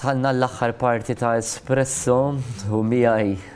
Dħalna l-aħħar parti ta' Espresso u miegħi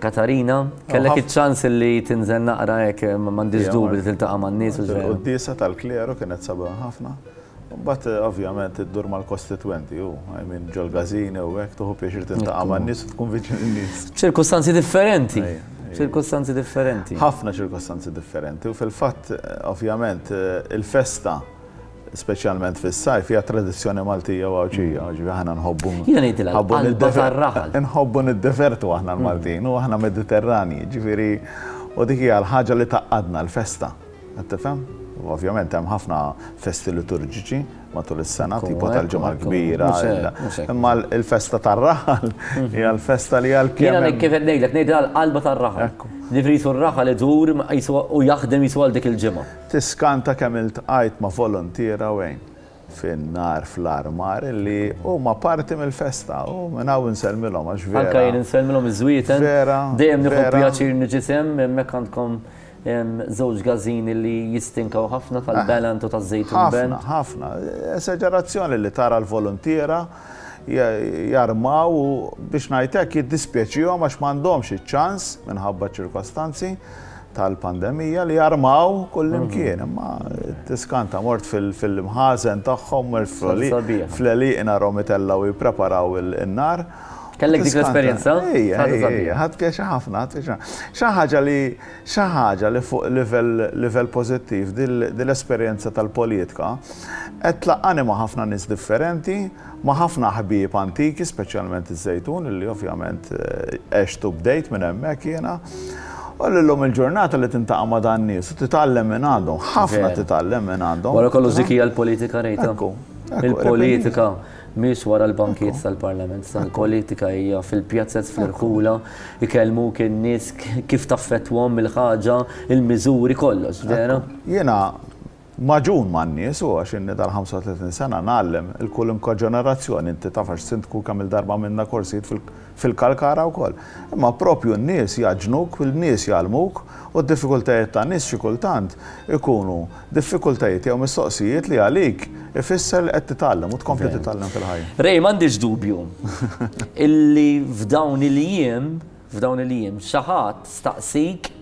Katarina, kellek iċ-ċans li tinżel naqra hekk m'għandix dubju li tiltaqa' man-nies u żejjed. Il-quddiesa tal-kleru kienet sabiħa ħafna. Imbagħad ovvjament iddur mal-kostitwenti u I mean ġol-każini u hekk tieħu pjaċir tiltaqa' man-nies u tkun viċin in-nies. Ċirkustanzi differenti. Ċirkustanzi differenti. Ħafna ċirkustanzi differenti u fil-fatt ovvjament il-festa, speċjalment fis-sajf, hija tradizzjoni Maltija u Għawdxija, mm. ġifi aħna nħobbu. Jiena ngħidilha qalba tar-raħal. Nħobbu niddefertu aħna mm. l-Maltin u aħna Mediterrani, ġifieri u dik hija l-ħaġa li taqqadna l-festa. Qed tifhem? Ovvjament hemm ħafna festi liturġiċi matul is-sena, tipo tal-ġimgħa kbira. Imma l-festa tar-raħal mhm. hija l-festa li għal kien. Jiena kif qed ngħidlek ngħidilha l-qalba tar-raħal. Nifrisu r-raħal idur u jaħdem jisu għal dik il-ġimgħa. Tiskanta kemm iltqajt ma' voluntier hawn fin-nar fl-armar li huma parti mill-festa u minn hawn insellmilhom għax vera. Anke jien insellmilhom iż-żwieten. Vera. Dejjem nieħu pjaċir niġi sehem, hemmhekk għandkom żewġ gażini li jistinkaw ħafna tal-Ballant u taż-Żejtun Band. Ħafna, ħafna. Esaġerazzjoni li tara l-voluntiera jarmaw u biex ngħid hekk jiddispjaċihom għax m'għandhomx iċ-ċans minħabba ċ-ċirkostanzi. tal-pandemija li jarmaw kullimkien, mhm. imma tiskanta mort fil-mħazen tagħhom fl-eliqna romitella u jippreparaw il-nar. Kellek dik l-esperjenza? Ħadd pjaċi ħafna, xi ħaġa li xi ħaġa li fuq livell pożittiv dil-esperjenza tal-politika qed tlaqani ma' ħafna nies differenti Ma' ħafna ħbieb antiki, speċjalment iż-Żejtun, illi ovvjament għext u bdejt minn hemmhekk jiena, u li llum il-ġurnata li tintaqa' ma' dan nies u titgħallem minn għandhom, ħafna titgħallem minn għandhom. Wara kollox dik hija l-politika Rita. Ekku, ekku. Il-politika mhix wara l-bankijiet tal-Parlament, sa l-politika hija fil-pjazez, fl-irħula, ikellmuk in-nies kif taffettwahom il-ħaġa, il-miżuri, kollox, vera? Jiena, Magħġun man-nies u għax inni dal-35 sena ngħallem 'il kulunkwe ġenerazzjoni, inti taf għax Sindku kemm-il darba għamilna korsijiet fil-Kalkara wkoll. Imma proprju n-nies jgħaġġnuk, in-nies jgħallmuk u d-diffikultajiet tan-nies xi kultant ikunu diffikultajiet jew mistoqsijiet li għalik ifisser li qed titgħallem u tkompli titgħallem fil-ħajja. Ray, m'għandix dubju illi f'dawn il-jiem, f'dawn il-jiem, xi ħadd staqsik,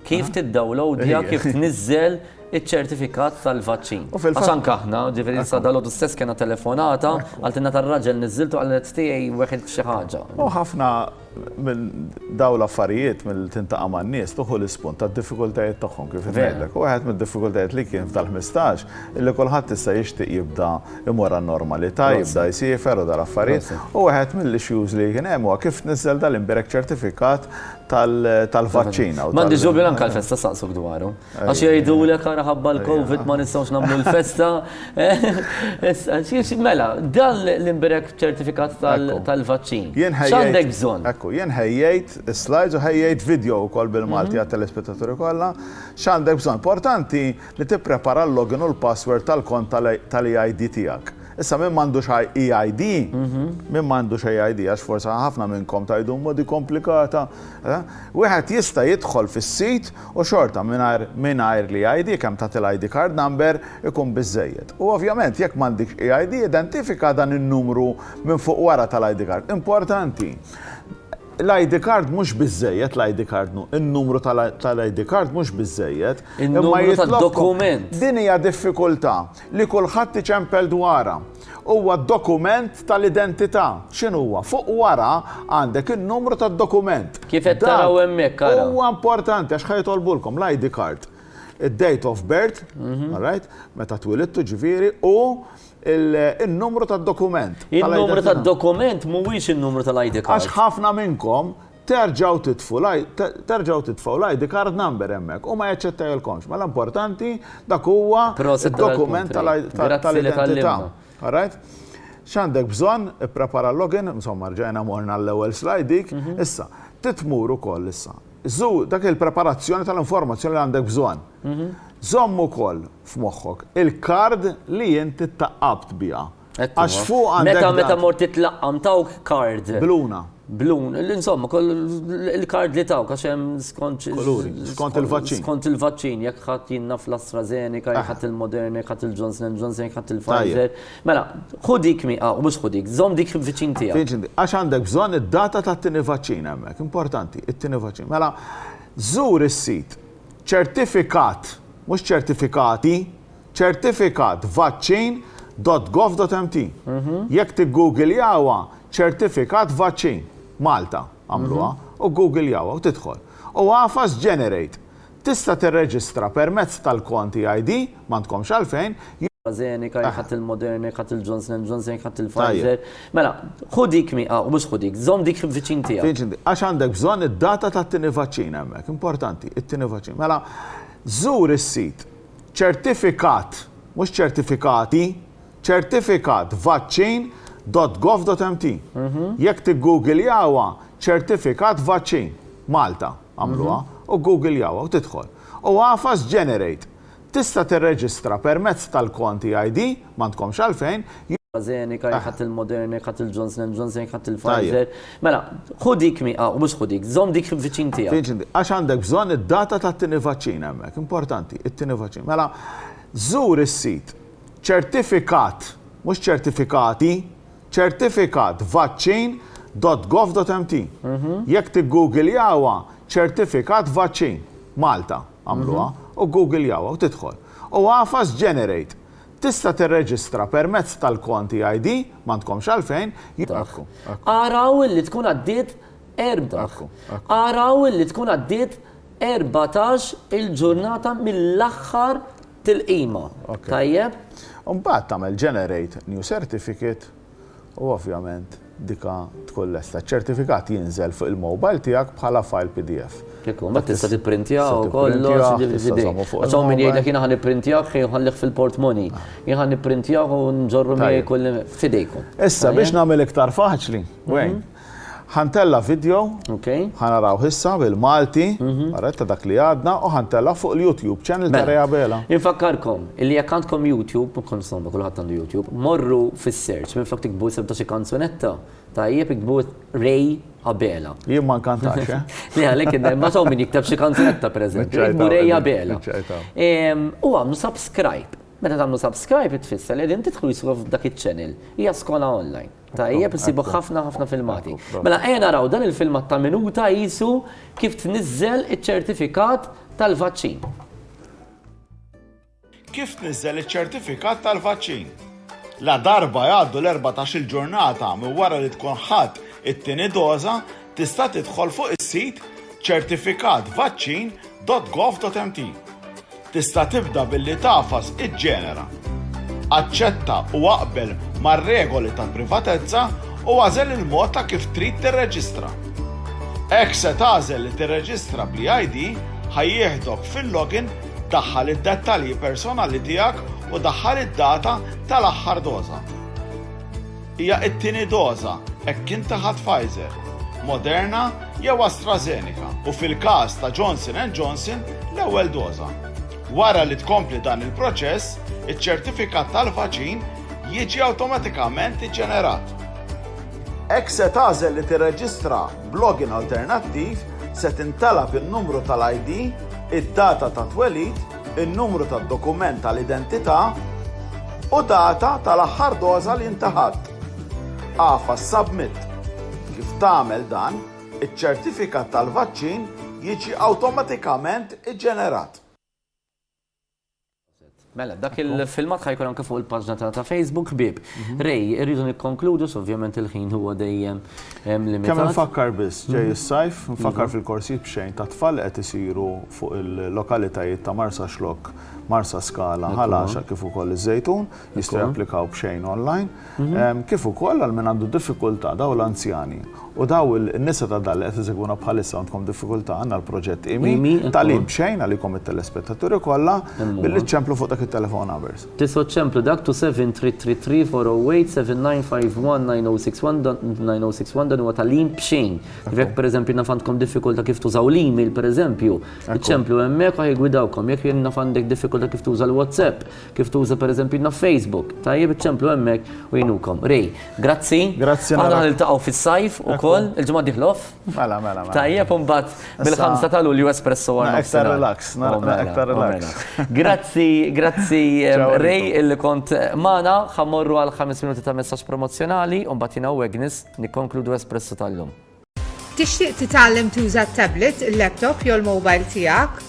kif tiddawlowdja, kif tniżżel iċ-ċertifikat tal-vaċċin. Għax anke aħna, ġifieri sa dalodu stess kena telefonata, għaltinna tar-raġel niżżiltu għalet tiegħi weħilt xi ħaġa. U ħafna minn dawn l-affarijiet mill tintaqa' man-nies tuħu l-ispun tad-diffikultajiet tagħhom kif ngħidlek. U wieħed mid-diffikultajiet li kien f'dal-ħmistax illi kulħadd issa jixtieq jibda imur għan-normalità, jibda jsiefer u dal-affarijiet. U wieħed mill-issues li kien hemm huwa kif tniżżel dal-imbierek ċertifikat tal-vaċċin. Mandi ġubju anka l-festa saqsuk dwaru. Għax jgħidu l għara ħabba l-Covid ma nistawx namlu l-festa. Mela, dan l-imbirek ċertifikat tal-vaċċin. Xandek bżon? Ekku, jien ħejjejt slides u ħejjejt video u kol bil-Malti mhm. għat-telespettaturi kolla. Xandek bżon? Importanti li tipprepara l-login u l-password tal-kont tal-ID tijak. Issa min m'għandux EID, min m'għandux EID għax forsi ħafna minnkom tgħidu imma di komplikata, wieħed jista' jidħol fis-sit u xorta mingħajr mingħajr l-EID kemm tagħti l-ID card number ikun biżżejjed. U ovvjament jekk m'għandikx EID identifika dan in-numru minn fuq wara tal-ID card. Importanti, l-ID card mhux biżżejjed, l-ID card nu, in-numru tal-ID card mhux biżżejjed, imma jitlobkom, din hija diffikultà. li kulħadd iċempel dwarha. Huwa d-dokument tal-identità. X'inhuwa? Fuq wara għandek in-numru tad-dokument. Kif qed taraw hemmhekk ara. Huwa importanti għax ħajtolbulkom l-ID card, id-date of birth, mhm. all right, meta twilidtu ġifieri u il-numru tad-dokument. Il-numru tad-dokument mhuwiex in-numru tal-ID card. Għax ħafna minnkom Terġgħu titfu l-, terġgħu titfgħu l-ID card number hemmhekk. Hu ma jaċċettajlkomx. Mela importanti dak huwa d-dokument tal-identità. All right? X'għandek bżonn? Ipprepara l-login, insomma rġajna morna għall-ewwel slide dik. Issa, trid tmur ukoll issa. Żur dak il-preparazzjoni tal-informazzjoni li għandek bżonn. Żomm ukoll f'moħħok il-card li int ittaqqabt biha. Għax fuq għandek. Meta meta mort titlaqqam tawk kard. Bluna. Blun, l-insomma, il-kard li tawk għax hemm skont. Skont il-vaċċin. Skont il-vaċċin, jekk ħadd jinna fl-AstraZeneca, jekk ħadd il-Moderna, jekk ħadd il-Johnson Johnson, jekk ħadd il-Pfizer. Mela, ħudik mi, ah, mhux ħudik, żomm dik viċin tiegħek. Għax għandek bżonn id-data tat-tieni vaċċin hemmhekk, importanti, it-tieni vaċċin. Mela, żur is-sit ċertifikat, mhux ċertifikati, Ċertifikat vaċċin dott gov dott MT. Jekk tiggugiljawha ċertifikat vaċċin, Malta għamluha, u ggugiljawha u tidħol. U agħfas Generate. Tista' tirreġistra permezz tal-kont EID, m'għandkomx għalfejn, AstraZeneca, jekk ħadt il-Moderna, jekk ħadt il-Johnson and Johnson, jekk ħadt il-Pfizer. Mela, ħu dik mi, ah, u mhux ħu dik, żomm dik viċin tiegħek. Viċin tiegħek. Għax għandek bżonn id-data tat-tieni vaċċin hemmhekk, importanti, it-tieni vaċċin. Mela, żur is-sit. Ċertifikat, mhux ċertifikati, ċertifikat vaċċin dot gov dot mt. Jekk tiggugiljawha ċertifikat vaċċin, Malta għamluha, u ggugiljawha u tidħol. U agħfas Generate. Tista' tirreġistra permezz tal-kont EID. M'għandkomx għalfejn. AstraZeneca, jekk ħadt il-Moderna, jekk ħadt il-Johnson and Johnson, jekk ħadt il-Pfizer. Mela, ħu dik miegħek, u mhux ħu dik, żomm dik viċin tiegħek. Viċin tiegħek. Għax għandek bżonn id-data tat-tieni vaċċin hemmhekk. Importanti, it-tieni vaċċin. Mela, żur is-sit ċertifikat, mhux ċertifikati, ċertifikat vaċċin .gov.mt. Jekk tiggugiljawha ċertifikat vaċċin Malta għamluha u ggugiljawha u tidħol. U agħfas generate. Tista' tirreġistra permezz tal-kont EID, m'għandkomx għalfejn, jekk. Ara u li tkun għaddiet erbgħax. Ara u li tkun għaddiet erbatax il-ġurnata mill-aħħar tilqima. Tajjeb? Imbagħad tagħmel Generate New Certificate. u ovvjament dika tkun lesta. Ċ-ċertifikat jinżel fuq il-mobile tiegħek bħala file pdf. Hekk hu, mbagħad tista' tipprintjaw u kollox, ġifieri. Għax hawn min jgħidlek jiena ħa nipprintjawh ħin inħallih fil-portmoni. Jien ħa nipprintjawh u nżorru miegħi kull. F'idejkom. Issa biex nagħmel iktar faċli, Wayne, Ħa ntella' vidjo, ħa narawh issa bil-Malti, ara ta' dak li għadna, u ħa ntellgħu fuq il-YouTube channel ta' Rea Bela. Infakkarkom illi jekk għandkom YouTube, insomma kulħadd għandu YouTube, morru fis-search, minflok tiktbu isem ta' xi kanzunetta, tajjeb iktbu Ray Abela. Jien ma nkantax, eh? Le għalhekk inne, ma hawn min jikteb xi kanzunetta pereżempju, iktbu Ray Abela. U għamlu subscribe. Meta tagħmlu subscribe tfisser li qegħdin tidħlu jiswa f'dak iċ-channel. Hija skola online. Tajjeb, issibu ħafna ħafna filmati. Mela ejja naraw dan il-filmat ta' minuta jisu kif tniżżel iċ-ċertifikat tal-vaċċin. Kif tniżżel iċ-ċertifikat tal-vaċċin? La darba jgħaddu l-14 il-ġurnata minn wara li tkun ħadd it-tieni doża, Tista' tidħol fuq is-sit certificatvaccin dot gov dot mt. Tista' tibda billi tagħfas iġġenera. Aċċetta u aqbel mar-regoli ta' privatezza u agħżel il-mod ta' kif trid tirreġistra. Hekk se tagħżel li tirreġistra bl-eID, ħa jieħdok fil-login, daħħal id-dettalji personali tiegħek u daħħal id-data tal-aħħar doża. Hija t-tieni doża, hekk kien ta' ħa Pfizer, Moderna jew AstraZeneca u fil-każ ta' Johnson and Johnson l-ewwel doża. Wara li tkompli dan il-proċess, iċ-ċertifikat tal-vaċin jiġi awtomatikament iġġenerat. Hekk se tagħżel li tirreġistra b'login alternattiv, se tintalab in-numru tal-ID, id-data ta' twelid, in-numru tad-dokument tal-identità u data tal-aħħar doża li inti ħadt. Agħfas Submit. Kif tagħmel dan, iċ-ċertifikat tal-vaċċin jiġi awtomatikament iġġenerat. Mela, dak il-filmat ħa jkun anke fuq il-paġna tagħna ta' Facebook ħbieb. Ray, irridu nikkonkludu, s ovvjament il-ħin huwa dejjem Hemm limitat. Kemm infakkar biss, ġej is-sajf, infakkar fil-korsijiet b'xejn tat-tfal li qed isiru fuq il-lokalitajiet ta' Marsaxlokk, Marsaskala, Ħal Għaxaq kif ukoll iż-Żejtun, jistgħu japplikaw b'xejn online, kif ukoll għal min għandu diffikultà, dawn l-anzjani u dawn in-nisa ta' dan li qed isegwuna bħalissa għandkom diffikultà, għandna l-proġett IMI, tagħlim b'xejn għalikom it-telespettaturi kollha, billi ċċemplu fuq dak it-telephone numbers. Tisod ċemplu dak to 7333 408 7951 9061 dan 9061 dan huwa tagħlim b'xejn. Jekk pereżempju naf għandkom diffikultà kif tużaw l-email pereżempju, iċċemplu hemmhekk u ħa jgwidawkom. Jekk jien naf għandek diffikultà kif tuża l-WhatsApp, kif tuża pereżempju naf Facebook, tajjeb iċċemplu hemmhekk u jgħinukom. Ray, grazzi. Grazzi naraw. Aħna ħa niltaqgħu fis-sajf ukoll, il-ġimgħa d-dieħla off? Mela, mela, mela. Tajjeb un bat bil-5 ta' Lulju Espresso għal Ektar relax, oh, mela, ektar oh, relax. Mela. Grazzi, grazzi Rej illi kont eh, mana, ħamorru għal 5 minuti ta' messaġġ promozzjonali un bat jina u Agnes nikkonkludu Espresso tal-lum. Tixtieq titgħallem tuża t-tablet, il-laptop jew il-mobile tiegħek?